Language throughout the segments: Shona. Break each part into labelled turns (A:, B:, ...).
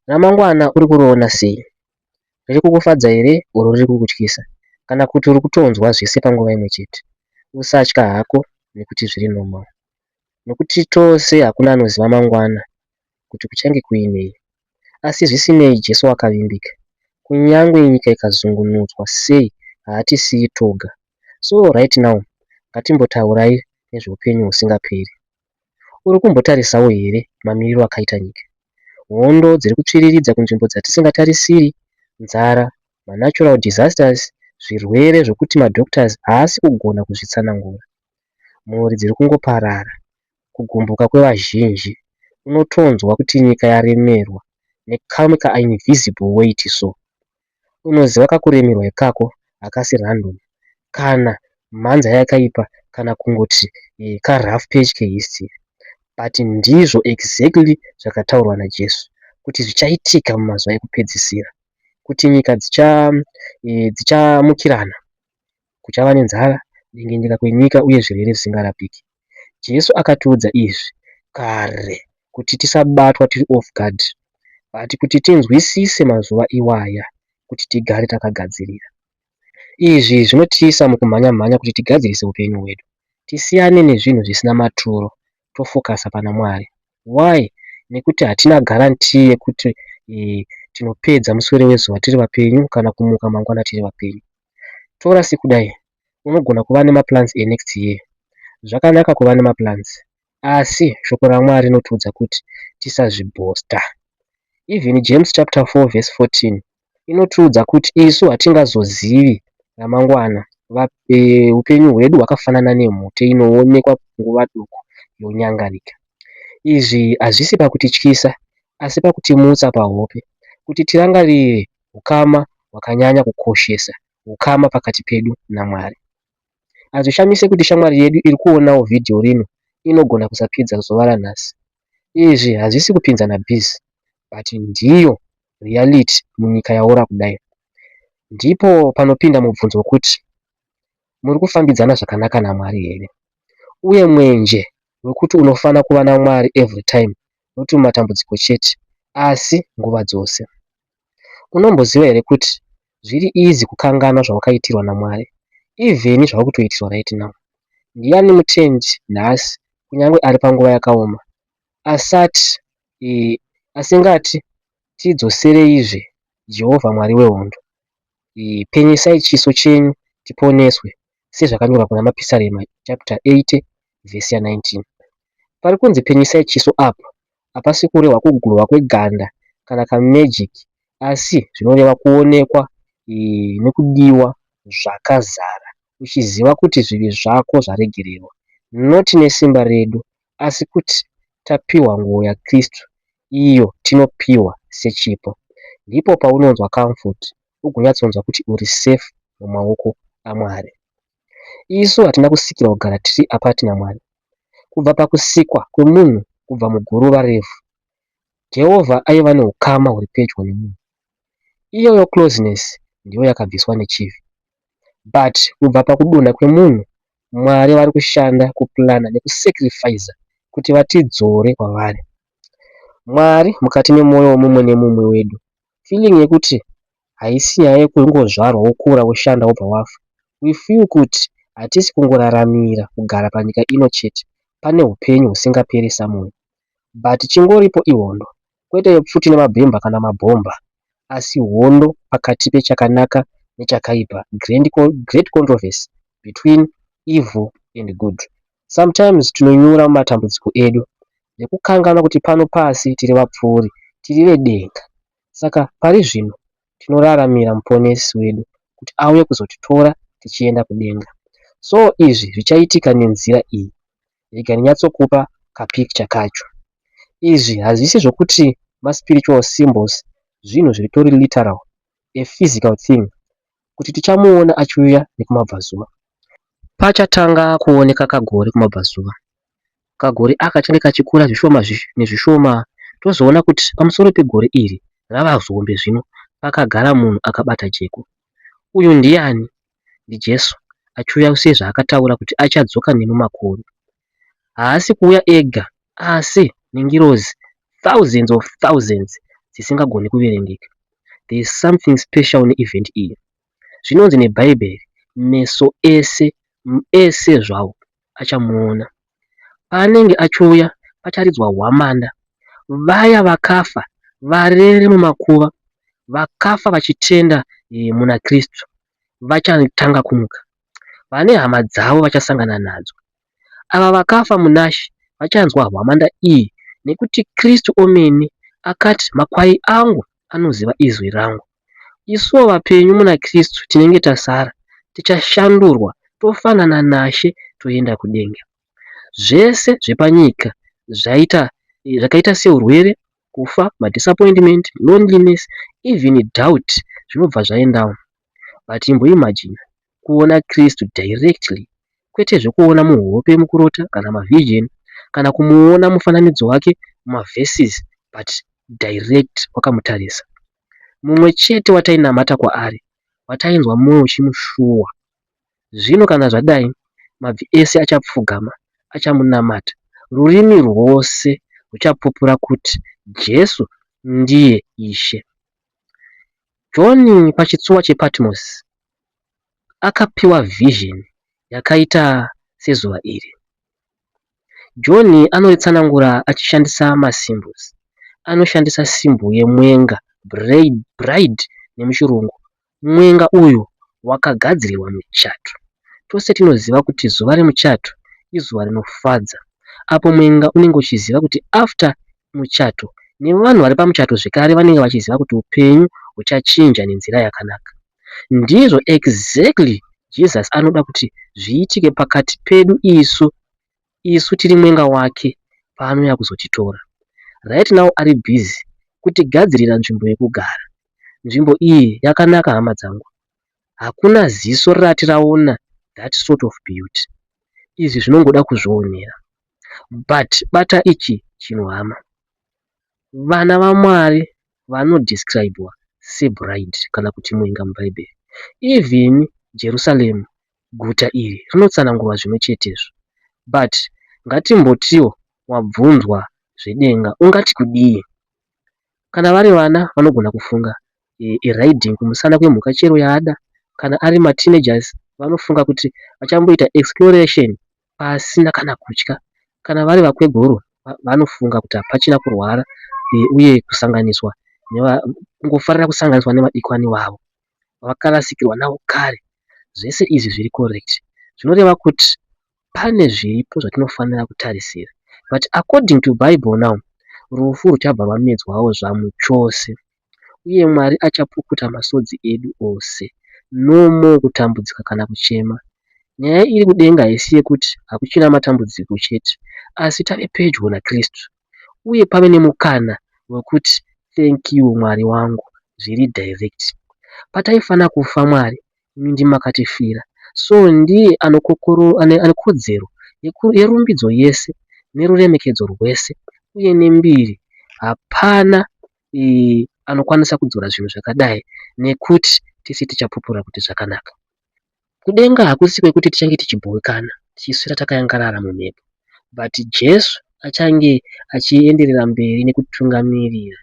A: Ramangwana uri kuriona sei? Riri kukufadza here or riri kukutyisa? Kana kuti uri kutonzwa zvese panguva imwe chete? Usatya hako nekuti zviri normal. Nokuti tose hakuna anoziva mangwana kuti kuchange kuinei. Asi zvisinei Jesu wakavimbika. Kunyangwe nyika ikazungunudzwa sei haatisiyi toga. So right now ngatimbotaurai nezveupenyu husingaperi. Uri kumbotarisawo here mamiriro akaita nyika? Hondo dziri kutsviriridza kunzvimbo dzatisingatarisiri, nzara, manatural disasters, zvirwere zvokuti madoctors haasi kugona kuzvitsanangura. Mhuri dziri kungoparara, kugumbuka kwevazhinji, unotonzwa kuti nyika yaremerwa nekamuka invisible weight so. unoziva kakuremerwa ikako hakasi random kana mhanza yakaipa kana kungoti ka rough patch ke history but ndizvo exactly zvakataurwa naJesu kuti zvichaitika mumazuva ekupedzisira kuti nyika dzichamukirana kuchava nenzara, dengenyeka kwenyika, uye zvirwere zvisingarapiki. Jesu akatiudza izvi kare kuti tisabatwa tiri off guard but kuti tinzwisise mazuva iwaya kuti tigare takagadzirira. Izvi zvinotiisa mukumhanya-mhanya kuti tigadzirise upenyu hwedu, tisiyane nezvinhu zvisina maturo tofocusa pana Mwari. Why? Nekuti hatina guarantee yekuti eh, tinopedza muswere wezuva tiri vapenyu kana kumuka mangwana tiri vapenyu. Tora sekudai, unogona kuva nemaplans enext year. Zvakanaka kuva nemaplans, asi shoko raMwari rinotiudza kuti tisazvibhosta. Even James chapter 4 verse 14 inotiudza kuti isu hatingazozivi ramangwana, upenyu hwedu hwakafanana nemhute inoonekwa nguva duku yonyangarika. Izvi hazvisi pakutityisa, asi pakutimutsa pahope kuti tirangarire ukama hwakanyanya kukoshesa, ukama pakati pedu naMwari. Hazvishamise kuti shamwari yedu iri kuonawo vhidhiyo rino inogona kusapedza zuva ranhasi Izvi hazvisi kupinzana biz but ndiyo reality munyika yaora kudai. Ndipo panopinda mubvunzo wekuti muri kufambidzana zvakanaka naMwari here? Uye mwenje wekuti unofana kuva naMwari every time not mumatambudziko chete asi nguva dzose. Unomboziva here kuti zviri easy kukanganwa zvawakaitirwa naMwari even zvava kutoitirwa right now. Ndiani mutendi nhasi kunyange ari panguva yakaoma asati eh, asingati tidzosereizve Jehovha Mwari wehondo. Eh, penyesai chiso chenyu tiponeswe sezvakanyorwa kuna Mapisarema chapter 8 verse ya 19. Pari kunzi penyisai chiso apa hapasi kurehwa kugurwa kweganda kana kamagic asi zvinoreva kuonekwa e, nekudiwa zvakazara uchiziva kuti zvivi zvako zvaregererwa noti nesimba redu asi kuti tapiwa nguo yaKristu iyo tinopiwa sechipo. Ndipo paunonzwa comfort ugonyatsonzwa kuti uri safe mumaoko aMwari. Isu hatina kusikirwa kugara tiri apart naMwari. Kubva pakusikwa kwemunhu kubva muguruva revhu, Jehovha aiva neukama huri pedyo nemunhu. Iyoyo closeness ndiyo yakabviswa nechivi. But kubva pakudonha kwemunhu, Mwari vari kushanda, kuplana nekusacrificer kuti vatidzore kwavari. Mwari mukati memwoyo wemumwe nemumwe wedu feeling yekuti haisi nyaya yekungozvarwa wokura woshanda wobva wafa we feel kuti hatisi kungoraramira kugara panyika ino chete pane hupenyu husingaperi somewhere but chingoripo ihondo kwete yepfuti nemabhemba kana mabhomba asi hondo pakati pechakanaka nechakaipa great controversy between evil and good Sometimes tinonyura mumatambudziko edu nekukanganwa kuti pano pasi tiri vapfuuri, tiri vedenga. Saka pari zvino tinoraramira Muponesi wedu kuti auye kuzotitora tichienda kudenga. So izvi zvichaitika nenzira iyi. Rega ndinyatsokupa kapicture kacho. Izvi hazvisi zvokuti maspiritual symbols zvinhu zviritori literal, a physical thing, kuti tichamuona achiuya nekumabvazuva. Pachatanga kuoneka kagori kumabvazuva, kagori aka change kachikura zvishoma nezvishoma tozoona kuti pamusoro pegori iri rava zihombe zvino pakagara munhu akabata jeko. Uyu ndiani? NdiJesu achiuya sezvaakataura kuti achadzoka nemumakoru. haasi kuuya ega asi nengirozi thousands of thousands dzisingagoni kuverengeka. There is something special neevent iyi. Zvinonzi neBhaibheri, meso ese, ese zvawo, achamuona. Paanenge achiuya, pacharidzwa hwamanda. Vaya vakafa varere mumakuva, vakafa vachitenda eh, muna Kristu, vachatanga kumuka. vane hama dzavo vachasangana nadzo. Ava vakafa munaShe vachanzwa hwamanda iyi nekuti Kristu omene akati, Makwai angu anoziva izwi rangu. Isuwo vapenyu muna Kristu tinenge tasara tichashandurwa tofanana naShe toenda kudenga. Zvese zvepanyika zvaita zvakaita seurwere, kufa, madisappointment, loneliness, even doubt zvinobva zvaendawo. But imbo imagine kuona Kristu directly kwete zvekuona muhope mukurota kana mavision kana kumuona mufananidzo wake mumaverses but direct wakamutarisa. Mumwe chete watainamata kwaari watainzwa mwoyo uchimushuwa. Zvino kana zvadai mabvi ese achapfugama achamunamata, rurimi rwose ruchapupura kuti Jesu ndiye Ishe. Joni pachitsuwa chePatmosi akapiwa vhizheni yakaita sezuva iri. Joni anoritsanangura achishandisa masimbosi. Anoshandisa simbo yemwenga, bride nemuchirungu. Mwenga uyu wakagadzirirwa muchato. Tose tinoziva kuti zuva remuchato izuva rinofadza apo mwenga unenge uchiziva kuti after muchato nevanhu vari pamuchato zvekare vanenge vachiziva kuti upenyu huchachinja nenzira yakanaka. Ndizvo exactly Jesus anoda kuti zviitike pakati pedu isu, isu tiri mwenga wake paanouya kuzotitora. Right now ari busy kutigadzirira nzvimbo yekugara. Nzvimbo iyi yakanaka hama dzangu. Hakuna ziso rati raona that sort of beauty. Izvi zvinongoda kuzvionera. but bata ichi chinhu hama. Vana vaMwari vano describwa sebride kana kuti mwenga muBhaibheri. Even Jerusalem guta iri rinotsanangurwa zvimwe chetezvo. But ngatimbotiwo wabvunzwa zvedenga ungati kudii? Kana vari vana vanogona kufunga e, e riding kumusana kwemhuka chero yaada. Kana ari mateenagers vanofunga kuti vachamboita exploration pasina kana kutya. Kana vari vakweguru vanofunga kuti hapachina kurwara uye kusanganiswa kungofarira kusanganiswa nevadikani vavo vakarasikirwa navo kare. Zvese izvi zviri correct zvinoreva kuti pane zviripo zvatinofanira kutarisira but according to bible now rufu ruchabva rwamedzwawo zvamu chose. uye Mwari achapukuta masodzi edu ose. No more kutambudzika kana kuchema. Nyaya iri kudenga haisi yekuti hakuchina matambudziko chete asi tave pedyo naKristu uye pave nemukana wekuti thank you Mwari wangu zviri direct. Pataifanira kufa Mwari imi ndimi makatifira so ndiye ane kodzero yerumbidzo yese neruremekedzo rwese uye nembiri hapana anokwanisa kudzora zvinhu zvakadai nekuti tisi tichapupura kuti zvakanaka. Kudenga hakusi kwekuti tichange tichibhowekana tichiswera takayangarara mumhepo, but Jesu achange achienderera mberi nekutungamirira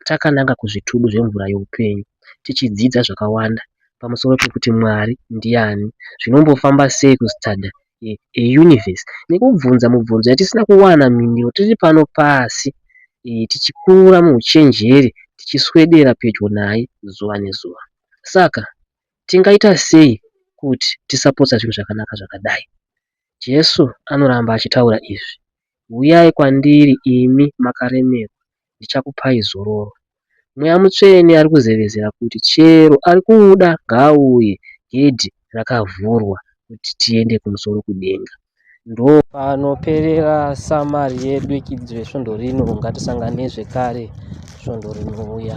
A: takananga kuzvitubu zvemvura youpenyu, tichidzidza zvakawanda pamusoro pekuti Mwari ndiani, zvinombofamba sei kustada eUniverse nekubvunza mubvunzo yatisina kuwana mhinduro tiri pano pasi tichikura muuchenjeri tichiswedera pedyo naye zuva nezuva. Saka tingaita sei kuti tisapotsa zvinhu zvakanaka zvakadai? Jesu anoramba achitaura izvi, Uyai kwandiri imi makaremerwa ndichakupai zororo. Mweya Mutsvene ari kuzevezera kuti chero ari kuda ngaauye gedhi rakavhurwa kuti tiende kumusoro kudenga. Ndo. Panoperera samari yedu yekidzo yesvondo rino. Ngatisangane zvekare svondo rinouya.